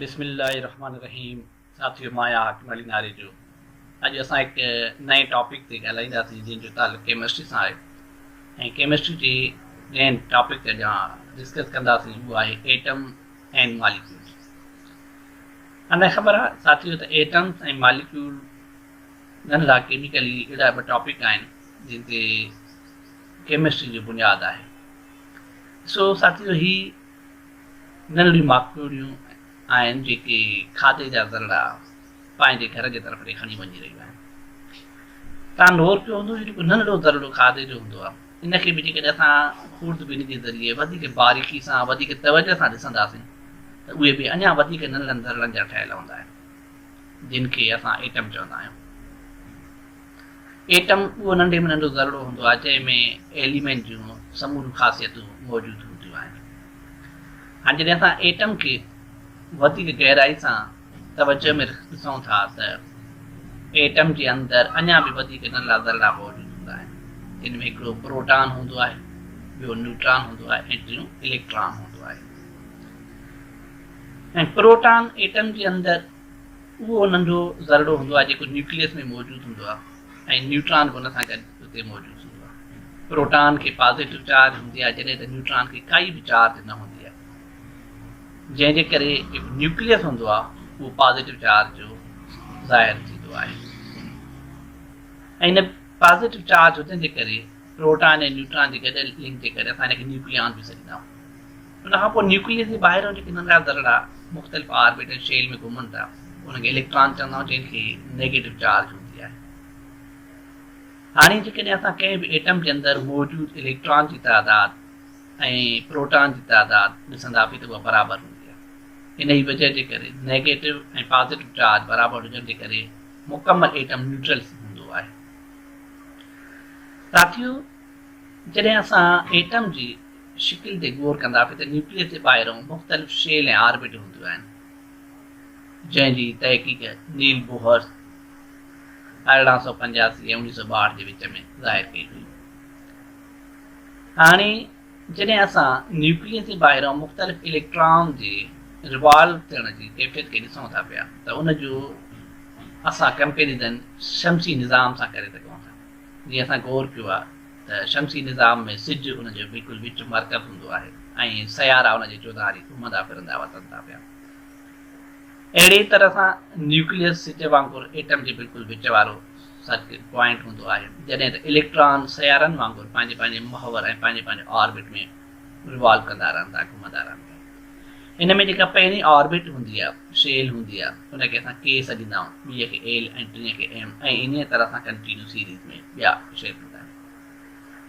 بسم الله الرحمٰن الرحيم ساٿيو مان آهيان حاڪم علي ناريجو اڄ اسان هڪ نئين ٽاپڪ تي ڳالهائينداسين جنهن جو تعلق ڪيمسٽري سان آهي ۽ ڪيمسٽري جي جنهن ٽاپڪ تي اڄ ڊسڪس ڪنداسين اهو آهي ايٽم ۽ ماليڪيول انا خبر آهي ساٿيو ته ايٽمس ۽ ماليڪيول جن لا ڪيميڪلي اهڙا ٻه ٽاپڪ آهن جن تي ڪيمسٽري جو بنياد آهي سو ساٿيو هي ننڍڙيون ماڪوڙيون آهن جيڪي کاڌي جا ذرڙا پنهنجي گهر جي طرف ڏي کڻي وڃي رهيون آهن. تان نور ڪيو هوندو جو جيڪو ننڍڙو ذرڙو کاڌي جو هوندو آهي ان کي به جيڪڏهن اسان خورد بيني جي ذريعي وڌيڪ باريڪي سان وڌيڪ توجه سان ڏسنداسين ته اهي به اڃا وڌيڪ ننڍڙن ذرڙن جا ٺهيل هوندا آهن جن کي اسان ايٽم چوندا آهيون. ايٽم اهو ننڍي ۾ ننڍو ذرڙو هوندو آهي جنهن ۾ ايليمينٽ جون سموريون خاصيتون موجود هونديون آهن هاڻي جڏهن اسان ايٽم کي وڌيڪ گهرائي سان توجه ۾ ڏسون ٿا ته ايٽم جي اندر اڃا به وڌيڪ ننڍا ذرڙا موجود هوندا آهن جن ۾ هڪڙو پروٽان هوندو آهي ٻيو نيوٽران هوندو آهي ۽ ٽيون اليڪٽران هوندو آهي ۽ پروٽان ايٽم جي اندر اهو ننڍو ذرڙو هوندو آهي جيڪو نيوڪليس ۾ موجود هوندو آهي ۽ نيوٽران به ان سان گڏ اتي موجود هوندو آهي. پروٽان کي پازيٽو چارج هوندي آهي جڏهن ته نيوٽران کي ڪائي به چارج نه هوندي آهي جنهن جي ڪري جيڪو نيوڪليس هوندو آهي اهو پازيٽو چارج جو ظاهر ٿيندو آهي ۽ ان پازيٽو چارج هجڻ جي ڪري پروٽان ۽ نيوٽران جي گڏيل لنڪ جي ڪري اسان هن کي نيوڪليان به سڏيندا آهيون. ان کان پوء نيوڪليس جي ٻاهريون جيڪي ننڍا ذرڙا مختلف آربيٽل شيل ۾ گهمن ٿا، انهن کي اليڪٽران چوندا آهيون، جن کي نيگيٽو چارج هوندي آهي. هاڻي جيڪڏهن اسان ڪنهن به ايٽم جي اندر موجود اليڪٽران جي تعداد ۽ پروٽان جي تعداد ڏسندا به ته اها برابر هوندي آهي. انهيء وجهه جي ڪري نيگيٽو ۽ پازيٽو چارج برابر هجڻ جي ڪري مڪمل ايٽم نيوٽرل هوندو آهي. ساٿيو! جڏهن اسان ايٽم جي شڪل تي غور ڪندا پي ته نيوڪليس جي ٻاهرئون مختلف شيل ۽ آربٽ هونديون آهن جنهن جي تحقيق نيل بوهر ارڙهن سؤ پنجاسي ۽ اڻيهه سؤ ٻاهٺ جي وچ ۾ ظاهر ڪئي هئي. هاڻي جڏهن اسان نيوڪليس جي ٻاهرئون مختلف اليڪٽران جي روالو ٿيڻ جي ڪيفيت کي ڏسون ٿا پيا ته ان جو اسان ڪمپيريزن شمسي نظام سان ڪري سگهون ٿا. جيئن اسان غور ڪيو آهي ته شمسي نظام ۾ سج ان جو بلڪل وچ مرڪز هوندو آهي ۽ سيارا ان جي چوڌاري گهمندا ڦرندا وتن ٿا پيا. اهڙي ئي طرح سان نيوڪليس سج وانگر ايٽم جي بلڪل وچ وارو سرڪٽ پوائنٽ هوندو آهي، جڏهن ته اليڪٽران سيارن وانگر پنهنجي پنهنجي محور ۽ پنهنجي پنهنجي آربٽ ۾ ريوالو ڪندا رهن ٿا، گهمندا رهن ٿا. ان ۾ جيڪا پهرين آربٽ هوندي آ، شيل هوندي آ، ان کي اسان ڪي سڏيندا آهيون، ٻيء کي ايل ۽ ٽين کي ايم ۽ انهيء طرح سان ڪنٽينيو سيريز ۾ ٻيا شيل هوندا آهن.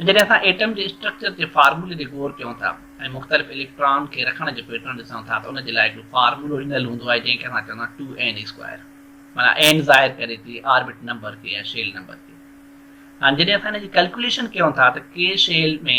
۽ جڏهن اسان ايٽم جي اسٽرڪچر جي فارمولي تي غور ڪيون ٿا ۽ مختلف اليڪٽران کي رکڻ جو پيٽرن ڏسون ٿا ته ان جي لاء هڪڙو فارمولو ڏنل هوندو آهي جنهن کي اسان چوندا آهيون ٽو اين اسڪوائر معنيٰ اين ظاهر ڪري ٿي آربٽ نمبر کي يا شيل نمبر کي هاڻي جڏهن اسان ان جي ڪلڪوليشن ڪيون ٿا ته ڪي شيل ۾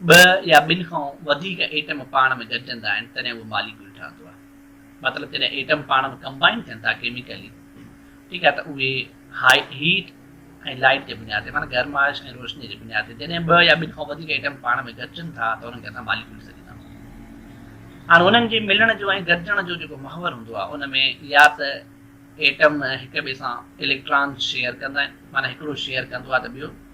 ٻه يا ٻن کان وڌيڪ ايٽم پاڻ ۾ گڏجندا آهن تڏهن اهو ماليڪيول ٺهندو آهي. مطلب جڏهن ايٽم پاڻ ۾ ڪمبائن ٿين ٿا ڪيميڪلي ٺيڪ آهي ته اهي هائي هيٽ ۽ لائيٽ جي بنياد تي معنيٰ گرمائش ۽ روشني جي بنياد تي جڏهن ٻه يا ٻن کان وڌيڪ ايٽم پاڻ ۾ گڏجن ٿا ته انهن کي اسان ماليڪيول سڏيندا هاڻ انهن جي ملڻ جو ۽ گڏجڻ جو جيڪو محور هوندو آهي ان ۾ يا ته ايٽم هڪ ٻئي سان اليڪٽران شيئر ڪندا آهن معنيٰ هڪڙو شيئر ڪندو آهي ته ٻيو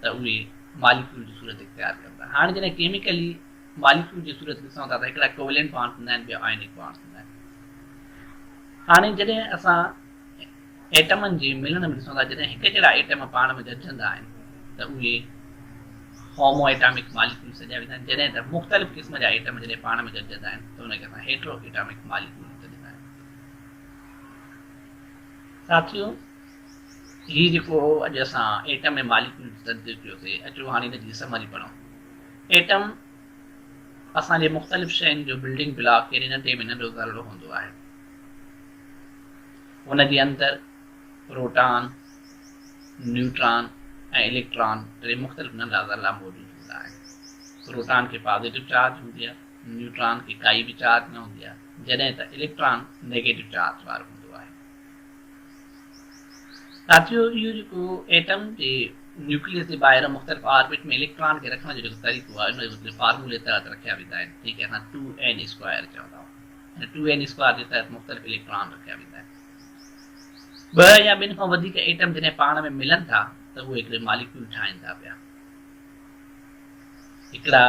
ته اهي ماليڪيول جي صورت اختيار ڪن ٿا. هاڻ جڏهن ڪيميڪلي ماليڪيول جي صورت ڏسون ٿا ته هڪڙا ڪوويلنٽ بانڊز هوندا آهن ٻيا آئونڪ بانڊز هوندا آهن. هاڻي جڏهن اسان ايٽمن جي ملڻ ۾ ڏسون ٿا جڏهن هڪ جهڙا ايٽم پاڻ ۾ گڏجندا آهن ته اهي هومو ايٽامڪ ماليڪيول سڏيا ويندا آهن جڏهن ته مختلف قسم جا ايٽم جڏهن پاڻ ۾ گڏجندا آهن ته ان کي اسان هيٽرو ايٽامڪ ماليڪيول سڏيندا آهيون. ساٿيو هي جيڪو هو اڄ اسان ايٽم ۽ ماليڪيول تي تنقيد ڪيو سي اچو هاڻي ان جي سمري پڙهون. ايٽم اسان جي مختلف شين جو بلڊنگ بلاڪ يعني ننڍي ۾ ننڍو ذرڙو هوندو آهي. ان جي اندر پروٽان، نيوٽران ۽ اليڪٽران ٽي مختلف ننڍا ذرڙا موجود هوندا آهن. پروٽان کي پازيٽو چارج هوندي آهي، نيوٽران کي ڪائي به چارج نه هوندي آهي جڏهن ته اليڪٽران نيگيٽو چارج وارو هوندو آهي. ساٿيو اهو جيڪو ايٽم جي نيوڪليس جي ٻاهر مختلف آربٽ ۾ اليڪٽران کي رکڻ جو جيڪو طريقو آهي ان جي مختلف فارمولي تحت رکيا ويندا آهن جنهن کي اسان ٽو اين اسڪوائر چوندا آهيون ان ٽو اين اسڪوائر جي تحت مختلف اليڪٽران رکيا ويندا آهن ٻه يا ٻن کان وڌيڪ ايٽم جڏهن پاڻ ۾ ملن ٿا ته اهي هڪڙي ماليڪيول ٺاهين ٿا پيا هڪڙا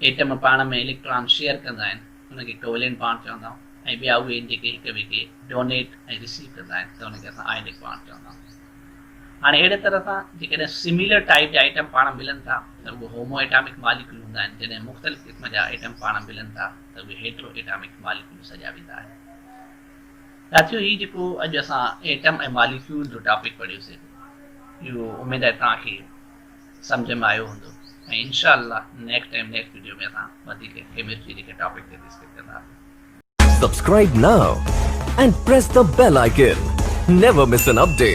ايٽم پاڻ ۾ اليڪٽران شيئر ڪندا آهن ان کي ڪويلين پاڻ چوندا آهيون ۽ ٻيا اهي آهن جيڪي هڪ ٻئي کي ڊونيٽ ۽ ريسيو ڪندا آهن ته ان کي اسان آئينڪ پاڻ چوندا آهيون. هاڻي اهڙي طرح سان جيڪڏهن سميلر ٽائيپ جا ايٽم پاڻ ملن ٿا ته اهي هومو ايٽامڪ ماليڪيول هوندا آهن جڏهن مختلف قسم جا ايٽم پاڻ ملن ٿا ته اهي هيٽرو ايٽامڪ ماليڪيول سڏيا ويندا آهن. ساٿيو هي جيڪو اڄ اسان ايٽم ۽ ماليڪيول جو ٽاپڪ پڙهيوسي اهو اميد آهي توهان کي سمجهه ۾ آيو هوندو ۽ انشاء الله نيڪسٽ ٽائيم نيڪسٽ وڊيو ۾ اسان وڌيڪ ڪيمسٽري جي ڪنهن ٽاپڪ تي ڊسڪس ڪنداسين. Subscribe now and press the bell icon. Never miss an update.